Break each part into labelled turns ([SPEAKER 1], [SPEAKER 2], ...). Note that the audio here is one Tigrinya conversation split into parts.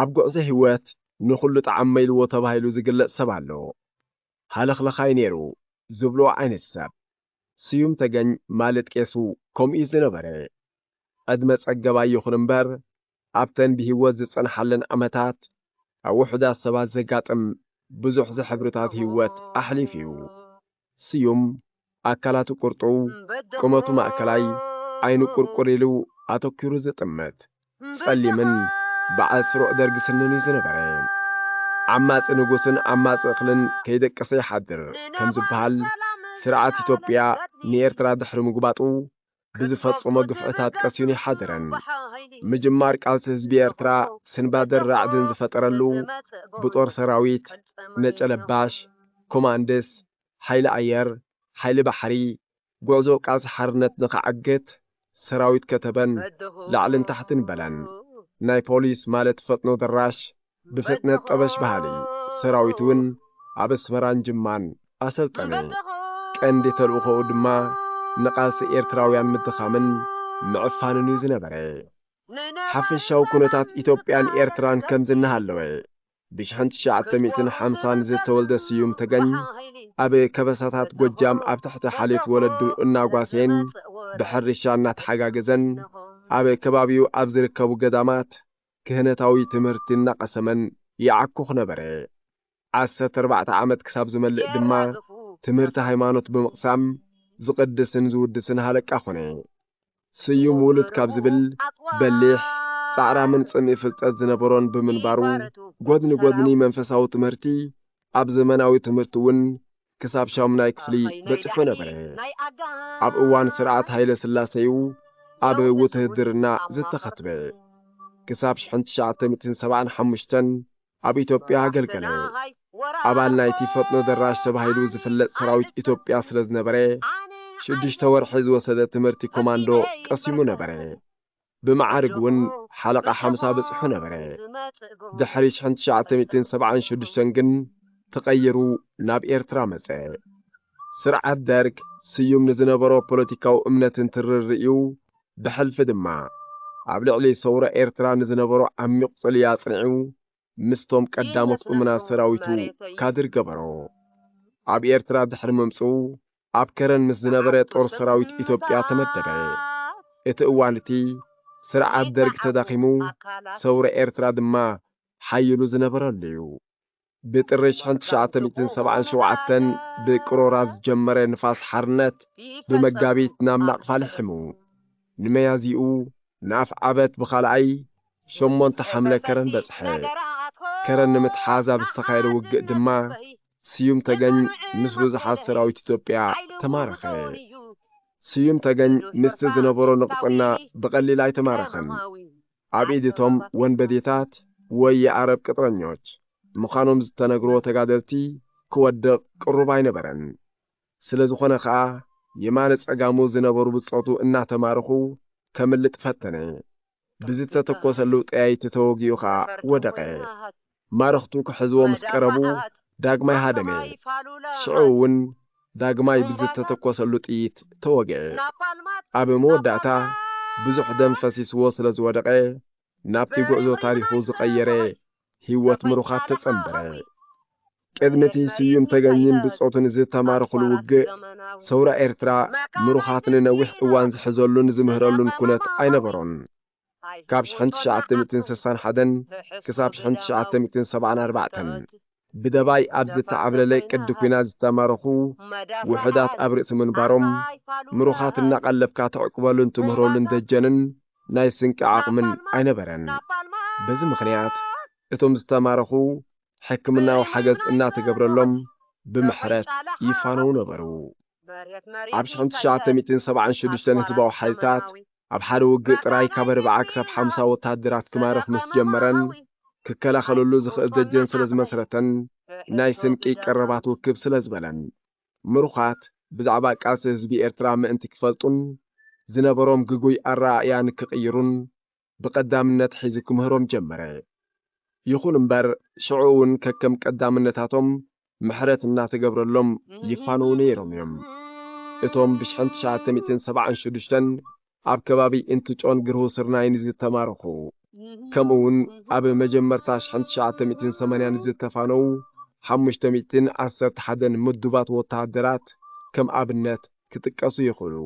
[SPEAKER 1] ኣብ ጉዕዞ ሂወት ንኹሉ ጠዓመይልዎ ተባሂሉ ዝግለጽ ሰብ ኣሎ። ሃለኽለኻይ ኔሩ ዝብልዎ ዓይነት ሰብ። ስዩም ተገኝ ማለት ቄሱ ከምኡ'ዩ ዝነበረ። ዕድመ ጸገባይ ይኹን እምበር ኣብተን ብሂወት ዝጸንሓለን ዓመታት ኣብ ውሑዳት ሰባት ዘጋጥም ብዙሕ ዝሕብርታት ሂወት ኣሕሊፉ'ዩ። ስዩም፣ ኣካላቱ ቁርጡው፣ ቁመቱ ማእከላይ፣ ዓይኑ ቁርቁር ኢሉ ኣተኲሩ ዝጥምት፣ ጸሊምን በዓል ስሩዕ ደርጊ ስንን'ዩ ዝነበረ። ዓማጺ ንጉስን ዓማጺ እኽልን ከይደቀሰ ይሓድር ከም ዝበሃል፣ ስርዓት ኢትዮጵያ ንኤርትራ ድሕሪ ምጉባጡ፣ ብዝፈጸሞ ግፍዕታት ቀሲኑ ይሓደረን። ምጅማር ቃልሲ ህዝቢ ኤርትራ ስንባደን ራዕድን ዝፈጠረሉ ብጦር ሰራዊት፣ ነጨለባሽ፣ ኮማንድስ፣ ሓይሊ ኣየር፣ ሓይሊ ባሕሪ፣ ጉዕዞ ቃልሲ ሓርነት ንኸዓግት ሰራዊት ከተበን ላዕልን ታሕትን በለን። ናይ ፖሊስ ማለት ፈጥኖ ደራሽ ብፍጥነት ጠበሽ በሃሊ ሰራዊት እውን ኣብ ኣስመራን ጅማን ኣሰልጠነ። ቀንዲ ተልእኾኡ ድማ ንቓልሲ ኤርትራውያን ምድኻምን ምዕፋንን እዩ ዝነበረ። ሓፈሻዊ ኩነታት ኢትዮጵያን ኤርትራን ከምዚ እናሃለወ፣ ብሽሕን ትሽዓተ ሚእትን ሓምሳን ዝተወልደ ስዩም ተገኝ፣ ኣብ ከበሳታት ጎጃም ኣብ ትሕቲ ሓልዮት ወለዱ እናጓሰየን ብሕርሻ እናተሓጋገዘን ኣብ ከባቢኡ ኣብ ዝርከቡ ገዳማት ክህነታዊ ትምህርቲ እናቐሰመን ይዓኩኽ ነበረ። ዓሰርተ ኣርባዕተ ዓመት ክሳብ ዝመልእ ድማ ትምህርቲ ሃይማኖት ብምቕሳም ዝቕድስን ዝውድስን ሃለቃ ኮነ። ስዩም ውሉድ ካብ ዝብል በሊሕ፣ ጻዕራምን ጽምኢ ፍልጠት ዝነበሮን ብምንባሩ፣ ጎድኒ ጎድኒ መንፈሳዊ ትምህርቲ ኣብ ዘመናዊ ትምህርቲ እውን ክሳብ ሻሙናይ ክፍሊ በጺሑ ነበረ። ኣብ እዋን ስርዓት ሃይለስላሰ'ዩ ኣብ ውትህድርና ዝተኸትበ። ክሳብ ሽሕን ትሽዓተ ሚእትን ሰብዓን ሓሙሽተን ኣብ ኢትዮጵያ ኣገልገለ። ኣባል ናይቲ ፈጥኖ ደራሽ ተባሂሉ ዝፍለጥ ሰራዊት ኢትዮጵያ ስለ ዝነበረ፣ ሽዱሽተ ወርሒ ዝወሰደ ትምህርቲ ኮማንዶ ቀሲሙ ነበረ። ብመዓርግ ውን ሓለቓ ሓምሳ በጺሑ ነበረ። ድሕሪ ሽሕን ትሽዓተ ሚእትን ሰብዓን ሸዱሽተን ግን ተቐይሩ ናብ ኤርትራ መጸ። ስርዓት ደርግ ስዩም ንዝነበሮ ፖለቲካዊ እምነትን ትርር'ዩ፣ ብሕልፊ ድማ ኣብ ልዕሊ ሰውራ ኤርትራ ንዝነበሮ ዓሚቝ ጽልኢ ኣጽኒዑ ምስቶም ቀዳሞት እሙናት ሰራዊቱ ካድር ገበሮ። ኣብ ኤርትራ ድሕሪ ምምጽኡ ኣብ ከረን ምስ ዝነበረ ጦር ሰራዊት ኢትዮጵያ ተመደበ። እቲ እዋን እቲ ስርዓት ደርግ ተዳኺሙ ሰውራ ኤርትራ ድማ ሓይሉ ዝነበረሉ'ዩ። ብጥሪ ሽሕን ትሽዓተ ሚእትን ሰብዓን ሸውዓተን ብቅሮራ ዝጀመረ ንፋስ ሓርነት ብመጋቢት ናብ ናቕፋ ልሒሙ ንመያዝይኡ ንኣፍዓበት ብኻልኣይ ሸሞንተ ሓምለ ከረን በጽሐ። ከረን ንምትሓዝ ኣብ ዝተኻየደ ውግእ ድማ ስዩም ተገኝ ምስ ብዙሓት ሰራዊት ኢትዮጵያ ተማረኸ። ስዩም ተገኝ ምስቲ ዝነበሮ ንቕጽና ብቐሊል ኣይተማረኸን። ኣብ ኢድ እቶም ወንበዴታት ወይ የኣረብ ቅጥረኞች ምዃኖም ዝተነግርዎ ተጋደልቲ ክወድቕ ቅሩብ ኣይነበረን። ስለ ዝኾነ ከኣ የማነ ጸጋሙ ዝነበሩ ብጾቱ እናተማረኹ ከምልጥ ፈተነ። ብዝተተኮሰሉ ጠያይቲ ተወጊኡ ከኣ ወደቐ። ማረኽቱ ክሕዝዎ ምስ ቀረቡ ዳግማይ ሃደመ። ሽዑ እውን ዳግማይ ብዝተተኮሰሉ ጥይት ተወግኤ። ኣብ መወዳእታ ብዙሕ ደም ፈሲስዎ ስለ ዝወደቐ ናብቲ ጉዕዞ ታሪኹ ዝቐየረ ህይወት ምሩኻት ተጸንበረ። ቅድሚ እቲ ስዩም ተገኝን ብጾቱን ዝተማረኹሉ ውግእ፣ ሰውራ ኤርትራ ምሩኻት ንነዊሕ እዋን ዝሕዘሉን ዝምህረሉን ኩነት ኣይነበሮን። ካብ ሽሕን ትሽዓተ ሚእትን ሰሳን ሓደን ክሳብ ሽሕን ትሽዓተ ሚእትን ሰብዓን ኣርባዕተን፣ ብደባይ ኣብ ዝተዓብለለ ቅዲ ኩናት ዝተማረኹ ውሑዳት ኣብ ርእሲ ምንባሮም፣ ምሩኻት እናቐለብካ ተዕቁበሉን ትምህረሉን ደጀንን ናይ ስንቂ ዓቕምን ኣይነበረን። በዚ ምኽንያት እቶም ዝተማረኹ ሕክምናዊ ሓገዝ እናተገብረሎም ብምሕረት ይፋነዉ ነበሩ። ኣብ ሽሕን ትሽዓተ ሚእትን ሰብዓን ሽዱሽተን ህዝባዊ ሓይልታት ኣብ ሓደ ውግእ ጥራይ ካብ ኣርብዓ ክሳብ ሓምሳ ወተሃደራት ክማርኽ ምስ ጀመረን ክከላኸለሉ ዝኽእል ደጀን ስለ ዝመስረተን ናይ ስንቂ ቀረባት ውክብ ስለ ዝበለን ምሩኻት ብዛዕባ ቃልሲ ህዝቢ ኤርትራ ምእንቲ ክፈልጡን ዝነበሮም ግጉይ ኣረኣእያ ንክቕይሩን ብቐዳምነት ሒዙ ክምህሮም ጀመረ። ይኹን እምበር ሽዑ እውን ከከም ቀዳምነታቶም ምሕረት እናተገብረሎም ይፋነዉ ነይሮም እዮም። እቶም ብሽሕን ትሽዓተ ሚእትን ሰብዓን ሸዱሽተን ኣብ ከባቢ እንትጮን ግርሁ ስርናይን ዝተማረኹ ከምኡ ውን ኣብ መጀመርታ ሽሕን ትሽዓተ ሚእትን ሰማንያን ዝተፋነዉ ሓሙሽተ ሚእትን ዓሰርተ ሓደን ምዱባት ወተሃደራት ከም ኣብነት ክጥቀሱ ይኽእሉ።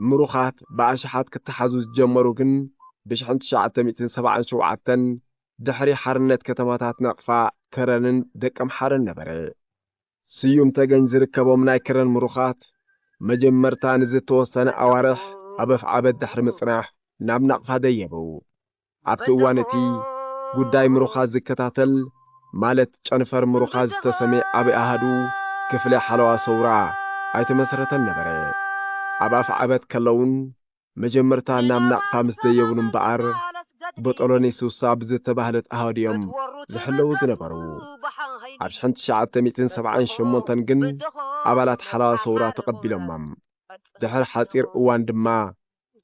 [SPEAKER 1] ምሩኻት ብኣሽሓት ክተሓዙ ዝጀመሩ ግን ብሽሕን ትሽዓተ ሚእትን ሰብዓን ሸውዓተን ድሕሪ ሓርነት ከተማታት ናቕፋ፣ ከረንን ደቀምሓረን ነበረ። ስዩም ተገኝ ዝርከቦም ናይ ክረን ምሩኻት፣ መጀመርታ ንዝተወሰነ ኣዋርሕ ኣብ ኣፍዓበት ድሕሪ ምጽናሕ ናብ ናቕፋ ደየቡ። ኣብቲ እዋን እቲ፣ ጉዳይ ምሩኻት ዝከታተል፣ ማለት ጨንፈር ምሩኻት ዝተሰምየ ዓቢ ኣሃዱ፣ ክፍሊ ሓለዋ ሰውራ፣ ኣይተመስረተን ነበረ። ኣብ ኣፍዓበት ከለዉን መጀመርታ ናብ ናቕፋ ምስ ደየቡሉ እምበኣር ቦጦሎኒ ሱሳ ብዝተባህለት ኣሃዱ እዮም ዝሕለዉ ዝነበሩ። ኣብ ሽሕን ትሽዓተ ሚእትን ሰብዓን ሸሞንተን ግን ኣባላት ሓለዋ ሰውራ ተቐቢሎሞም። ድሕሪ ሓጺር እዋን ድማ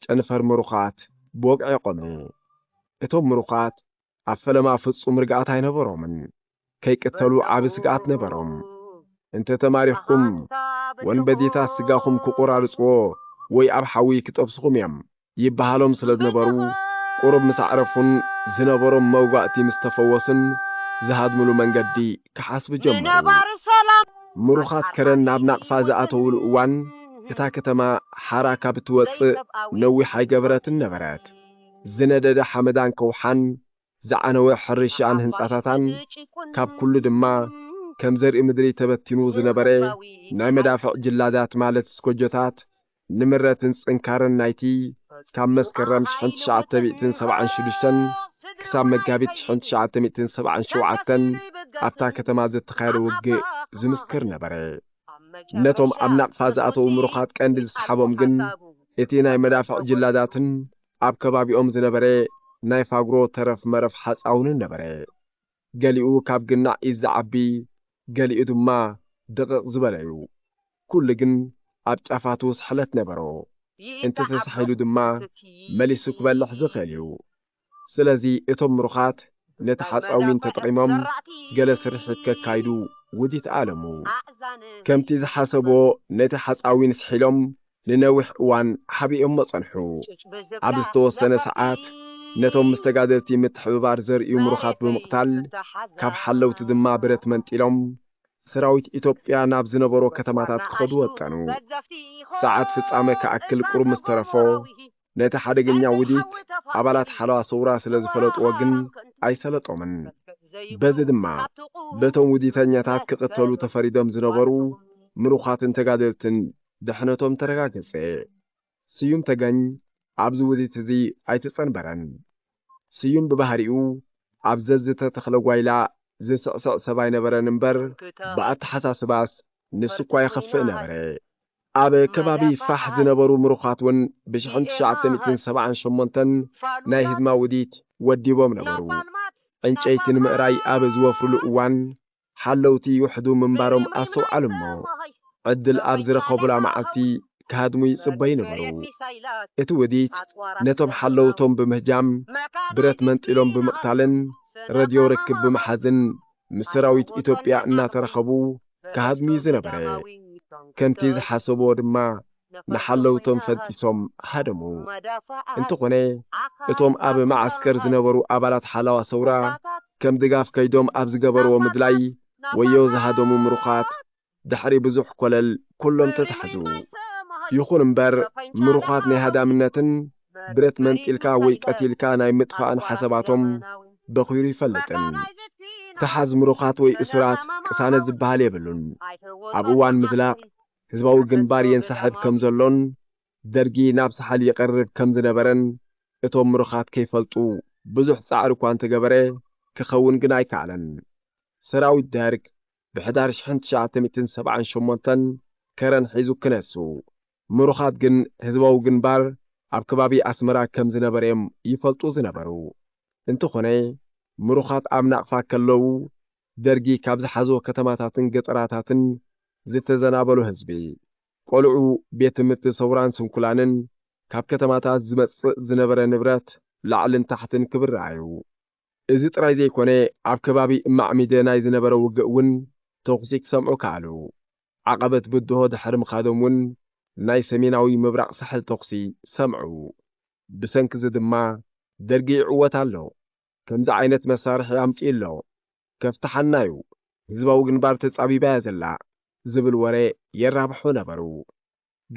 [SPEAKER 1] ጨንፈር ምሩኻት ብወግዒ ቖመ። እቶም ምሩኻት ኣብ ፈለማ ፍጹም ርግኣት ኣይነበሮምን። ከይቅተሉ ዓቢ ስግኣት ነበሮም። እንተ ተማሪኽኩም፣ ወንበዴታት ስጋኹም ክቝራርጽዎ ወይ ኣብ ሓዊ ክጠብሱኹም እዮም ይበሃሎም ስለ ዝነበሩ፣ ቁሩብ ምስ ኣዕረፉን ዝነበሮም መውጋእቲ ምስ ተፈወሱን ዝሃድምሉ መንገዲ ክሓስቡ ጀመሩ። ምሩኻት ከረን ናብ ናቕፋ ዝኣተዉሉ እዋን፣ እታ ከተማ ሓራ ካብ እትወጽእ ነዊሕ ኣይገበረትን ነበረት። ዝነደደ ሓመዳን ከውሓን ዝዓነወ ሕርሻኣን ህንጻታታን፣ ካብ ኩሉ ድማ ከም ዘርኢ ምድሪ ተበቲኑ ዝነበረ ናይ መዳፍዕ ጅላዳት ማለት ስኮጆታት፣ ንምረትን ጽንካረን ናይቲ ካብ መስከረም ሽሕን ትሽዓተ ሚእትን ሰብዓን ሽዱሽተን ክሳብ መጋቢት ሽሕን ትሽዓተ ሚእትን ሰብዓን ሸውዓተን ኣብታ ከተማ ዘተኻየደ ውግእ ዝምስክር ነበረ። ነቶም ኣብ ናቕፋ ዝኣተዉ ምሩኻት ቀንዲ ዝሰሓቦም ግን እቲ ናይ መዳፍዕ ጅላዳትን ኣብ ከባቢኦም ዝነበረ ናይ ፋግሮ ተረፍ መረፍ ሓጻውንን ነበረ። ገሊኡ ካብ ግናዕ ኢድ ዝዓቢ ገሊኡ ድማ ድቕቕ ዝበለ'ዩ። ኩሉ ግን ኣብ ጫፋቱ ስሕለት ነበሮ። እንተተሳሒሉ ድማ መሊሱ ክበልሕ ዝኽእል'ዩ። ስለዚ እቶም ምሩኻት ነቲ ሓጻዊን ተጠቒሞም ገለ ስርሒት ከካይዱ ውዲት ኣለሙ። ከምቲ ዝሓሰቡዎ ነቲ ሓጻዊን ስሒሎም ንነዊሕ እዋን ሓቢኦሞ ጸንሑ። ኣብ ዝተወሰነ ሰዓት ነቶም ምስ ተጋደልቲ ምትሕብባር ዘርእዩ ምሩኻት ብምቕታል፣ ካብ ሓለውቲ ድማ ብረት መንጢሎም ሰራዊት ኢትዮጵያ ናብ ዝነበሮ ከተማታት ክኸዱ ወጠኑ። ሰዓት ፍጻመ ክኣክል ቁሩብ ምስ ተረፎ፣ ነቲ ሓደገኛ ውዲት ኣባላት ሓለዋ ሰውራ ስለ ዝፈለጥዎ ግን ኣይሰለጦምን። በዚ ድማ በቶም ውዲተኛታት ክቕተሉ ተፈሪዶም ዝነበሩ ምሩኻትን ተጋደልትን ድሕነቶም ተረጋገጸ። ስዩም ተገኝ ኣብዚ ውዲት እዚ ኣይተጸንበረን። ስዩም ብባህሪኡ ኣብ ዘዝተ ተኽለጓይላ ዝስዕስዕ ሰብ ኣይነበረን እምበር ብኣተሓሳስባስ ንሱኳ የኽፍእ ነበረ። ኣብ ከባቢ ፋሕ ዝነበሩ ምሩኻት ውን ብሽሕን ትሽዓተ ሚእትን ሰብዓን ሸሞንተን ናይ ህድማ ውዲት ወዲቦም ነበሩ። ዕንጨይቲ ንምእራይ ኣብ ዝወፍሩሉ እዋን ሓለውቲ ይውሕዱ ምንባሮም ኣስተውዓሉ እሞ፣ ዕድል ኣብ ዝረኸቡላ መዓልቲ ክሃድሙ ይጽበዩ ነበሩ። እቲ ውዲት ነቶም ሓለውቶም ብምህጃም፣ ብረት መንጢሎም ብምቕታልን ረድዮ ርክብ ብምሓዝን ምስ ሰራዊት ኢትዮጵያ እናተራኸቡ ክሃድሙ'ዩ ዝነበረ። ከምቲ ዝሓሰቡዎ ድማ ንሓለውቶም ፈንጢሶም ሃደሙ። እንተኾነ እቶም ኣብ መዓስከር ዝነበሩ ኣባላት ሓላዋ ሰውራ ከም ድጋፍ ከይዶም ኣብ ዝገበርዎ ምድላይ ወዮ ዝሃደሙ ምሩኻት ድሕሪ ብዙሕ ኮለል ኩሎም ተታሕዙ። ይኹን እምበር ምሩኻት ናይ ሃዳምነትን ብረት መንጢልካ ወይ ቀቲልካ ናይ ምጥፋእን ሓሳባቶም በኺሩ ኣይፈልጥን። ተሓዝ ምሩኻት ወይ እሱራት ቅሳነት ዝበሃል የብሉን። ኣብ እዋን ምዝላቕ ህዝባዊ ግንባር የንሳሕብ ከም ዘሎን ደርጊ ናብ ሳሕል ይቐርብ ከም ዝነበረን እቶም ምሩኻት ከይፈልጡ ብዙሕ ጻዕሪ እኳ እንተገበረ ክኸውን ግን ኣይከኣለን። ሰራዊት ደርግ ብሕዳር ሽሕን ትሽዓተ ሚእትን ሰብዓን ሸሞንተን ከረን ሒዙ ክነሱ፣ ምሩኻት ግን ህዝባዊ ግንባር ኣብ ከባቢ ኣስመራ ከም ዝነበረ እዮም ይፈልጡ ዝነበሩ። እንተኾነ ምሩኻት ኣብ ናቕፋ ከለዉ ደርጊ ካብ ዝሓዞ ከተማታትን ገጠራታትን ዝተዘናበሉ ህዝቢ፣ ቆልዑ፣ ቤት ትምህርቲ ሰውራን ስንኩላንን፣ ካብ ከተማታት ዝመጽእ ዝነበረ ንብረት ላዕልን ታሕትን ክብራዩ። እዚ ጥራይ ዘይኮነ ኣብ ከባቢ ማዕሚደ ናይ ዝነበረ ውግእ ውን ተኹሲ ክሰምዑ ከኣሉ። ዓቐበት ብድሆ ድሕሪ ምኻዶም ውን ናይ ሰሜናዊ ምብራቕ ሳሕል ተኹሲ ሰምዑ። ብሰንኪዚ ድማ ደርጊ ይዕወት ኣሎ። ከምዚ ዓይነት መሳርሒ ኣምጺኡ ኣሎ ከፍትሓና ዩ ህዝባዊ ግንባር ተጻቢባ እያ ዘላ ዝብል ወረ የራብሑ ነበሩ።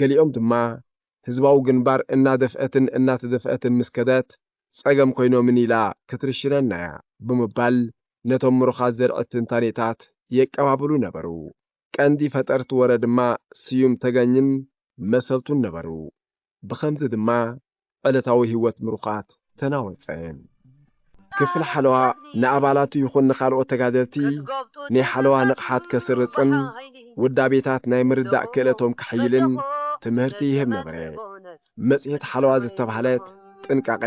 [SPEAKER 1] ገሊኦም ድማ ህዝባዊ ግንባር እናደፍአትን እናተደፍአትን ምስ ከደት ጸገም ኮይኖምን ኢላ ክትርሽነና እያ ብምባል ነቶም ምሩኻት ዘርዒት ትንታኔታት የቀባብሉ ነበሩ። ቀንዲ ፈጠርቲ ወረ ድማ ስዩም ተገኝን መሰልቱን ነበሩ። ብኸምዚ ድማ ዕለታዊ ህይወት ምሩኻት ተናወጸ። ክፍሊ ሓለዋ ንኣባላቱ ይኹን ንኻልኦት ተጋደልቲ ናይ ሓለዋ ንቕሓት ከስርጽን ውዳቤታት ናይ ምርዳእ ክእለቶም ከሐይልን ትምህርቲ ይህብ ነበረ። መጽሔት ሓለዋ ዝተባህለት ጥንቃቐ፣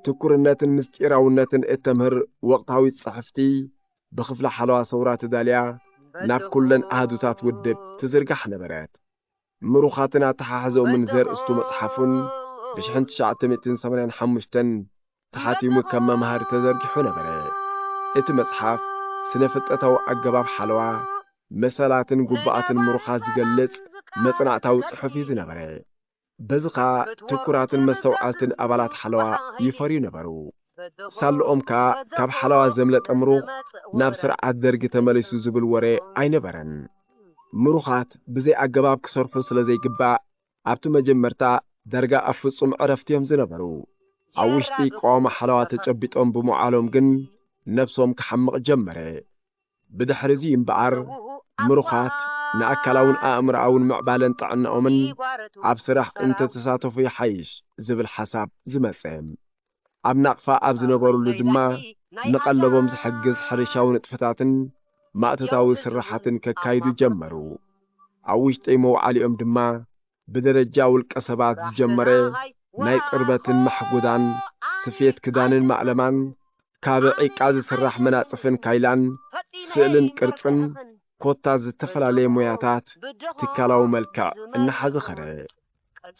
[SPEAKER 1] ትኩርነትን ምስጢራውነትን እተምህር ወቕታዊት ጽሕፍቲ ብክፍሊ ሓለዋ ሰውራ ተዳልያ ናብ ኩለን ኣሃዱታት ውድብ ትዝርጋሕ ነበረት። ምሩኻትን ኣተሓሕዛኦምን ዘርእስቱ መጽሓፉን ብሽሕን ትሽዓተ ሚእትን ሰማንያን ሓሙሽተን ተሓቲሙ ከም መምሃሪ ተዘርጊሑ ነበረ። እቲ መጽሓፍ ስነ-ፍልጠታዊ ኣገባብ ሓለዋ፣ መሰላትን ጉቡኣትን ምሩኻት ዝገልጽ መጽናዕታዊ ጽሑፍ'ዩ ዝነበረ። በዚ ከኣ ትኩራትን መስተውዓልትን ኣባላት ሓለዋ ይፈርዩ ነበሩ። ሳልኦም ከኣ ካብ ሓለዋ ዘምለጠ ምሩኽ ናብ ስርዓት ደርጊ ተመሊሱ ዝብል ወረ ኣይነበረን። ምሩኻት ብዘይ ኣገባብ ክሰርሑ ስለ ዘይግባእ ኣብቲ መጀመርታ ዳርጋ ኣብ ፍጹም ዕረፍቲ እዮም ዝነበሩ። ኣብ ውሽጢ ቀዋሚ ሓለዋ ተጨቢጦም ብምውዓሎም ግን ነብሶም ክሓምቕ ጀመረ። ብድሕሪ'ዚ እምበኣር፣ ምሩኻት ንኣካላውን ኣእምሮኣውን ምዕባለን ጥዕናኦምን ኣብ ስራሕ እንተተሳተፉ ይሓይሽ ዝብል ሓሳብ ዝመጸ። ኣብ ናቕፋ ኣብ ዝነበሩሉ ድማ ንቐለቦም ዝሕግዝ ሕርሻዊ ንጥፈታትን ማእቶታዊ ስርሓትን ከካይዱ ጀመሩ። ኣብ ውሽጢ መውዓሊኦም ድማ ብደረጃ ውልቀ ሰባት ዝጀመረ ናይ ጽርበትን ማሕጎዳን፣ ስፌት ክዳንን ማእለማን፣ ካብ ዒቃ ዝስራሕ መናጽፍን ካይላን፣ ስእልን ቅርጽን፣ ኮታ ዝተፈላለየ ሞያታት ትካላዊ መልክዕ እናሓዘ ኸደ።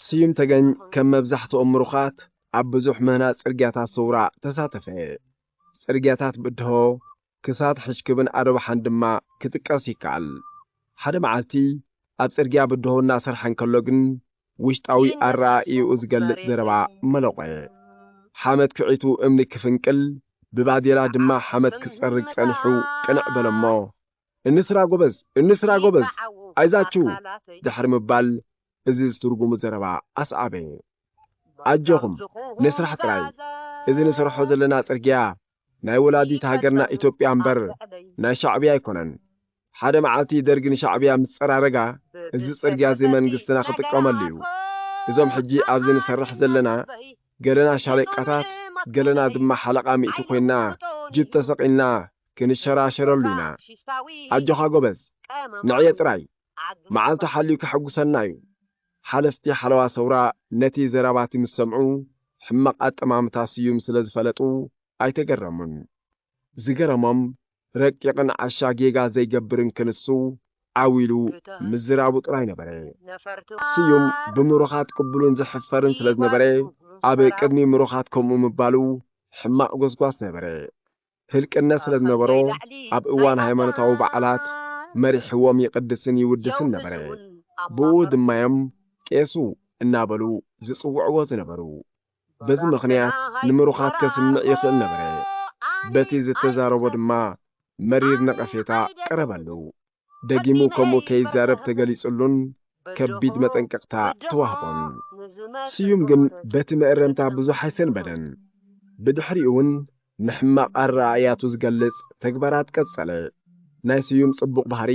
[SPEAKER 1] ስዩም ተገኝ ከም መብዛሕትኦም ምሩኻት ኣብ ብዙሕ ምህናጽ ጽርግያታት ሰውራ ተሳተፈ። ጽርግያታት ብድሆ ክሳድ ሕጅክብን ኣዶብሓን ድማ ክጥቀስ ይከኣል። ሓደ መዓልቲ ኣብ ጽርግያ ብድሆ እናሰርሐ እንከሎ ግን ውሽጣዊ ኣረኣእይኡ ዝገልጽ ዘረባ መለቖየ። ሓመድ ኩዒቱ እምኒ ክፍንቅል ብባዴላ ድማ ሓመድ ክጸርግ ጸኒሑ ቅንዕ በለ'ሞ እንስራ ጎበዝ! እንስራ ጎበዝ! ኣይዛችሁ! ድሕሪ ምባል እዚ ዝትርጉሙ ዘረባ ኣስዓበ። ኣጆኹም ንስራሕ ጥራይ! እዚ ንሰርሖ ዘለና ጽርግያ ናይ ወላዲት ሃገርና ኢትዮጵያ እምበር ናይ ሻዕብያ ኣይኮነን። ሓደ መዓልቲ ደርጊ ንሻዕብያ ምስ ጸራረጋ እዚ ጽርግያ እዚ መንግስትና ክጥቀመሉ እዩ። እዞም ሕጂ ኣብዚ ንሰርሕ ዘለና ገለና ሻለቃታት ገለና ድማ ሓለቓ ሚእቲ ኮይንና ጅብ ተሰቂልና ክንሸራሸረሉ ኢና። ኣጆኻ ጎበዝ ንዕየ ጥራይ። መዓልቱ ሓልዩ ከሐጉሰና እዩ። ሓለፍቲ ሓለዋ ሰውራ ነቲ ዘረባቲ ምስ ሰምዑ ሕማቕ ኣጠማምታ ስዩም ስለ ዝፈለጡ ኣይተገረሙን። ዝገረሞም ረቂቕን ዓሻ ጌጋ ዘይገብርን ክንሱ ዓው ኢሉ ምዝራቡ ጥራይ ነበረ። ስዩም ብምሩኻት ቅቡልን ዝሕፈርን ስለ ዝነበረ ኣብ ቅድሚ ምሩኻት ከምኡ ምባሉ ሕማቕ ጎስጓስ ነበረ። ህልቅነት ስለ ዝነበሮ ኣብ እዋን ሃይማኖታዊ በዓላት መሪሕዎም ይቕድስን ይውድስን ነበረ። ብእኡ ድማ'ዮም ቄሱ እናበሉ ዝጽውዕዎ ዝነበሩ። በዚ ምኽንያት ንምሩኻት ከስምዕ ይኽእል ነበረ። በቲ ዝተዛረቦ ድማ መሪር ነቐፌታ ቀረበሉ። ደጊሙ ከምኡ ከይዛረብ ተገሊጽሉን ከቢድ መጠንቀቕታ ተዋህቦን። ስዩም ግን በቲ መእረምታ ብዙሕ ኣይሰንበደን። ብድሕሪኡ'ውን ንሕማቕ ኣረኣእያቱ ዝገልጽ ተግባራት ቀጸለ። ናይ ስዩም ጽቡቕ ባህሪ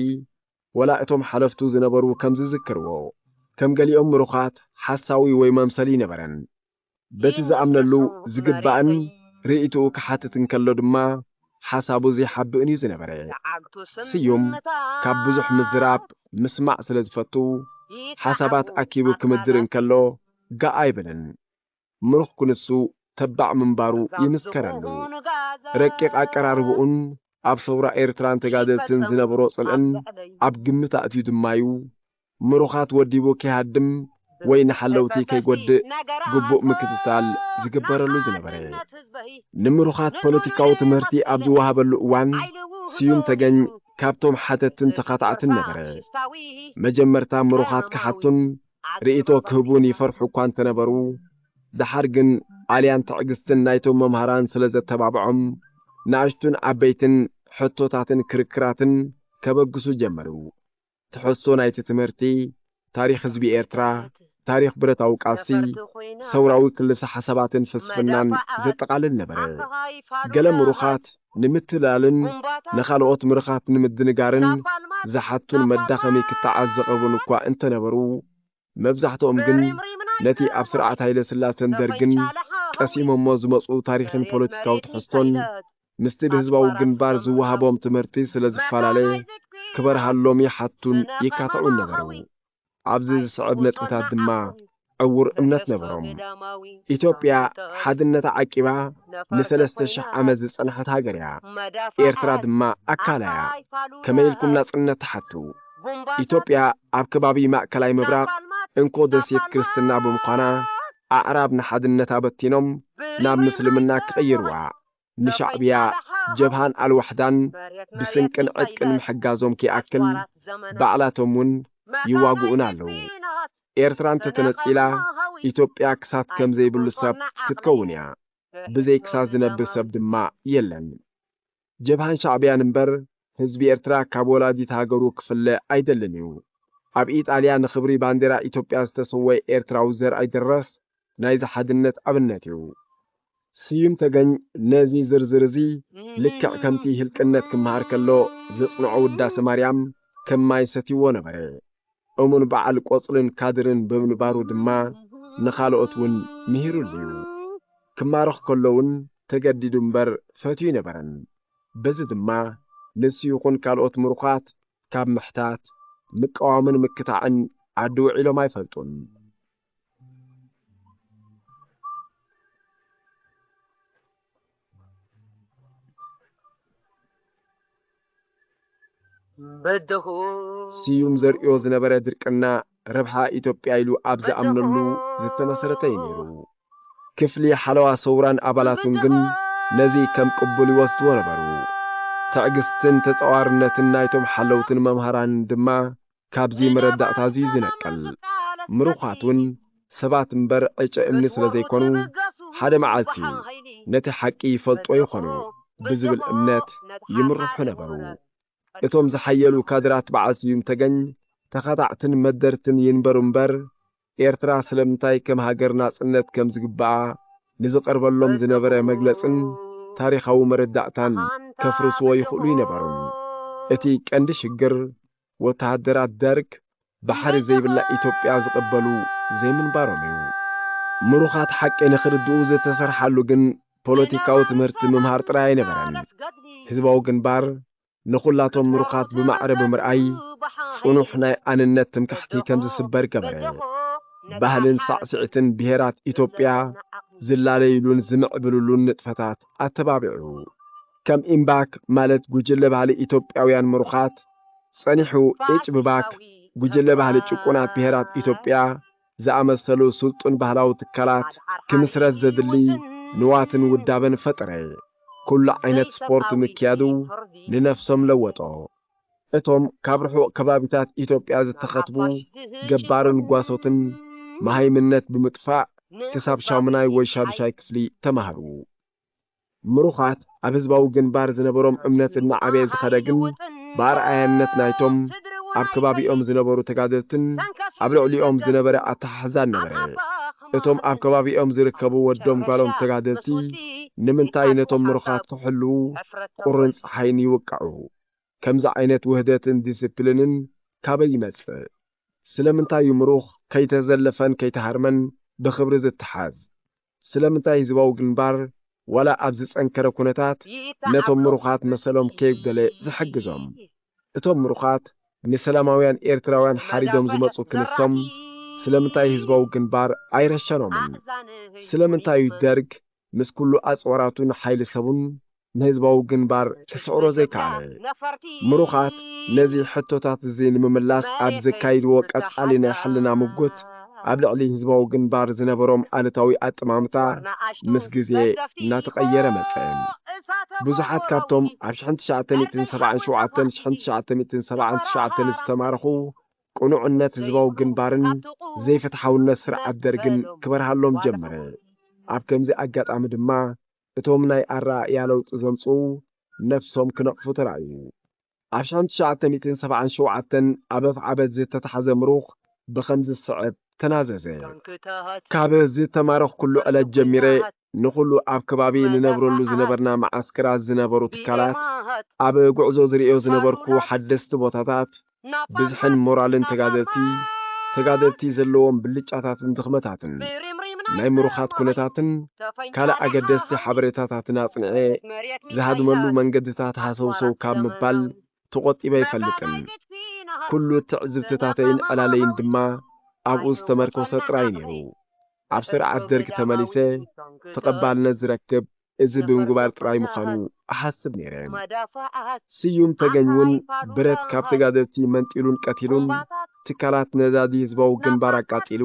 [SPEAKER 1] ወላ እቶም ሓለፍቱ ዝነበሩ ከም ዝዝክርዎ፣ ከም ገሊኦም ምሩኻት ሓሳዊ ወይ መምሰል እይነበረን። በቲ ዝኣምነሉ ዝግባእን ርእይትኡ ክሓትት እንከሎ ድማ ሓሳቡ ዘይሓብእን እዩ ዝነበረ። ስዩም ካብ ብዙሕ ምዝራብ ምስማዕ ስለ ዝፈቱ ሓሳባት ኣኪቡ ክምድር እንከሎ ጋእ ኣይብልን። ምሩኽ ክንሱ ተባዕ ምንባሩ ይምስከረሉ። ረቂቕ ኣቀራርባኡን ኣብ ሰውራ ኤርትራን ተጋደልትን ዝነበሮ ጽልእን ኣብ ግምት ኣእትዩ ድማ'ዩ ምሩኻት ወዲቡ ከይሃድም ወይ ንሓለውቲ ከይጎድእ ግቡእ ምክትታል ዝግበረሉ ዝነበረ። ንምሩኻት ፖለቲካዊ ትምህርቲ ኣብ ዝወሃበሉ እዋን ስዩም ተገኝ ካብቶም ሓተትትን ተኻታዕትን ነበረ። መጀመርታ ምሩኻት ክሓቱን ርእይቶ ክህቡን ይፈርሑ እኳ እንተነበሩ፣ ደሓር ግን ኣልያን ትዕግስትን ናይቶም መምሃራን ስለ ዘተባብዖም ንኣሽቱን ዓበይትን ሕቶታትን ክርክራትን ከበግሱ ጀመሩ። ትሕዝቶ ናይቲ ትምህርቲ፣ ታሪኽ ህዝቢ ኤርትራ፣ ታሪኽ ብረታዊ ቃልሲ፣ ሰውራዊ ክልሰ-ሓሳባትን ፍልስፍናን ዘጠቓልል ነበረ። ገለ ምሩኻት ንምትላልን ንኻልኦት ምርኻት ንምድንጋርን ዝሓቱን መዳኸሚ ክታዓት ዘቕርቡን እኳ እንተነበሩ፣ መብዛሕትኦም ግን ነቲ ኣብ ስርዓት ሃይለስላሰን ደርግን ቀሲሞሞ ዝመጹ ታሪኽን ፖለቲካዊ ትሕዝቶን ምስቲ ብህዝባዊ ግንባር ዝወሃቦም ትምህርቲ ስለ ዝፈላለ ክበርሃሎም ይሓቱን ይካትዑን ነበሩ። ኣብዚ ዝስዕብ ነጥብታት ድማ ዕዉር እምነት ነበሮም። ኢትዮጵያ ሓድነታ ዓቂባ ንሰለስተ ሽሕ ዓመት ዝጸንሐት ሃገር እያ። ኤርትራ ድማ ኣካላ እያ። ከመይ ኢልኩም ናጽነት ትሓቱ? ኢትዮጵያ ኣብ ከባቢ ማእከላይ ምብራቕ እንኮ ደሴት ክርስትና ብምዃና ኣዕራብ ንሓድነታ በቲኖም ናብ ምስልምና ክቕይርዋ ንሻዕብያ ጀብሃን ኣልዋሕዳን ብስንቅን ዕጥቅን ምሕጋዞም ከይኣክል ባዕላቶም ውን ይዋግኡና ኣለዉ። ኤርትራ እንተተነጺላ ኢትዮጵያ ክሳት ከም ዘይብሉ ሰብ ክትከውን እያ። ብዘይ ክሳት ዝነብር ሰብ ድማ የለን። ጀብሃን ሻዕብያን እምበር ህዝቢ ኤርትራ ካብ ወላዲት ሃገሩ ክፍለ ኣይደልን እዩ። ኣብ ኢጣልያ ንኽብሪ ባንዴራ ኢትዮጵያ ዝተሰወየ ኤርትራዊ ዘርኣይ ደረስ ናይዚ ሓድነት ኣብነት እዩ። ስዩም ተገኝ ነዚ ዝርዝር እዚ ልክዕ ከምቲ ህልቅነት ክመሃር ከሎ ዘጽንዖ ውዳሰ ማርያም ከም ማይ ሰትዩዎ ነበረ። እሙን በዓል ቆጽልን ካድርን ብምንባሩ ድማ ንኻልኦት ውን ምሂሩሉ'ዩ። ክማረኽ ከሎ ውን ተገዲዱ እምበር ፈትዩ ኣይነበረን። በዚ ድማ ንሱ ይኹን ካልኦት ምሩኻት ካብ ምሕታት፣ ምቅዋምን ምክታዕን ዓዲ ውዒሎም ኣይፈልጡን። ስዩም ዘርእዮ ዝነበረ ድርቅና ረብሓ ኢትዮጵያ ኢሉ ኣብ ዝኣምነሉ ዝተመሰረተ እዩ ነይሩ። ክፍሊ ሓለዋ ሰውራን ኣባላቱን ግን ነዚ ከም ቅቡል ይወስድዎ ነበሩ። ትዕግስትን ተጻዋርነትን ናይቶም ሓለውትን መምሃራንን ድማ ካብዚ መረዳእታዚ ዝነቅል። ምሩኻት ውን ሰባት እምበር ዕጨ እምኒ ስለ ዘይኮኑ፣ ሓደ መዓልቲ ነቲ ሓቂ ይፈልጥዎ ይኾኑ ብዝብል እምነት ይምርሑ ነበሩ። እቶም ዝሓየሉ ካድራት በዓል ስዩም ተገኝ ተኻታዕትን መደርትን ይንበሩ እምበር፣ ኤርትራ ስለምንታይ ከም ሃገር ናጽነት ከም ዝግብኣ ንዝቐርበሎም ዝነበረ መግለጽን ታሪኻዊ መረዳእታን ከፍርስዎ ይኽእሉ ይነበሩን። እቲ ቀንዲ ሽግር፣ ወተሃደራት ደርግ ባሕሪ ዘይብላ ኢትዮጵያ ዝቕበሉ ዘይምንባሮም እዩ። ምሩኻት ሓቂ ንኽርድኡ ዝተሰርሓሉ ግን ፖለቲካዊ ትምህርቲ ምምሃር ጥራይ ኣይነበረን። ህዝባዊ ግንባር ንኹላቶም ምሩኻት ብማዕረ ብምርኣይ ጽኑሕ ናይ ኣንነት ትምክሕቲ ከም ዝስበር ገበረ። ባህልን ሳዕስዒትን ብሄራት ኢትዮጵያ ዝላለዩሉን ዝምዕብልሉን ንጥፈታት ኣተባቢዑ። ከም ኢምባክ ማለት ጉጅለ ባህሊ ኢትዮጵያውያን ምሩኻት፣ ጸኒሑ ኤጭ ብባክ፣ ጉጅለ ባህሊ ጭቁናት ብሄራት ኢትዮጵያ፣ ዝኣመሰሉ ስልጡን ባህላዊ ትካላት ክምስረት ዘድሊ ንዋትን ውዳበን ፈጠረ። ኩሉ ዓይነት ስፖርት ምክያዱ ንነፍሶም ለወጦ። እቶም ካብ ርሑቕ ከባቢታት ኢትዮጵያ ዝተኸትቡ ገባርን ጓሶትን መሃይምነት ብምጥፋእ ክሳብ ሻሙናይ ወይ ሻዱሻይ ክፍሊ ተማህሩ። ምሩኻት ኣብ ህዝባዊ ግንባር ዝነበሮም እምነት እናዓበየ ዝኸደ ግን ብኣርኣያነት ናይቶም ኣብ ከባቢኦም ዝነበሩ ተጋደልትን ኣብ ልዕሊኦም ዝነበረ ኣተሓሕዛን ነበረ። እቶም ኣብ ከባቢኦም ዝርከቡ ወዶም ጓሎም ተጋደልቲ ንምንታይ ነቶም ምሩኻት ክሕልዉ ቁርን ጸሓይን ይውቅዑ? ከምዚ ዓይነት ውህደትን ዲሲፕሊንን ካበይ ይመጽእ? ስለምንታይ እዩ ምሩኽ ከይተዘለፈን ከይተሃርመን ብኽብሪ ዝተሓዝ? ስለምንታይ ህዝባዊ ግንባር ዋላ ኣብ ዝጸንከረ ኩነታት ነቶም ምሩኻት መሰሎም ከይጉደለ ዝሕግዞም? እቶም ምሩኻት ንሰላማውያን ኤርትራውያን ሓሪዶም ዝመጹ ክንሶም ስለምንታይ ህዝባዊ ግንባር ኣይረሸኖምን? ስለምንታይ'ዩ ደርግ ምስ ኩሉ ኣጽዋራቱን ሓይሊ ሰቡን ንህዝባዊ ግንባር ክስዕሮ ዘይከኣለ? ምሩኻት ነዚ ሕቶታት'ዚ ንምምላስ ኣብ ዘካይድዎ ቀጻሊ ናይ ሕልና ምጉት፣ ኣብ ልዕሊ ህዝባዊ ግንባር ዝነበሮም ኣሉታዊ ኣጠማምታ ምስ ግዜ እናተቐየረ መጸ። ብዙሓት ካብቶም ኣብ ሽሕን ትሽዓተ ሚእትን ሰብዓን ሸውዓተን ሽሕን ትሽዓተ ሚእትን ሰብዓን ትሽዓተን ዝተማረኹ፣ ቅኑዕነት ህዝባዊ ግንባርን ዘይፍትሓውነት ስርዓት ደርግን ክበርሃሎም ጀመረ። ኣብ ከምዚ ኣጋጣሚ ድማ፣ እቶም ናይ ኣረኣእያ ለውጢ ዘምጽኡ ነብሶም ክነቕፉ ተራእዩ። ኣብ ሽሕን ትሽዓተ ሚእትን ሰብዓን ሸውዓተን ኣብ ኣፍዓበት ዝተታሕዘ ምሩኽ ብኸምዚ ዝስዕብ ተናዘዘ፣ ካብ ዝተማረኽኩሉ ዕለት ጀሚረ ንኹሉ ኣብ ከባቢ ንነብረሉ ዝነበርና መዓስከራት ዝነበሩ ትካላት፣ ኣብ ጉዕዞ ዝርእዮ ዝነበርኩ ሓደስቲ ቦታታት፣ ብዝሕን ሞራልን ተጋደልቲ፣ ተጋደልቲ ዘለዎም ብልጫታትን ድኽመታትን፣ ናይ ምሩኻት ኩነታትን ካልእ ኣገደስቲ ሓበሬታታትን ኣጽኒዔ ዝሃድመሉ መንገድታት ሃሰውሰው ካብ ምባል ተቖጢበ ኣይፈልጥን። ኩሉ ትዕዝብትታተይን ዕላለይን ድማ ኣብኡ ዝተመርኮሰ ጥራይ ነይሩ። ኣብ ስርዓት ደርግ ተመሊሰ ተቐባልነት ዝረክብ እዚ ብምግባር ጥራይ ምዃኑ እሓስብ ነይረ። ስዩም ተገኝ'ውን ብረት ካብ ተጋደልቲ መንጢሉን ቀቲሉን ትካላት ነዳዲ ህዝባዊ ግንባር ኣቃጺሉ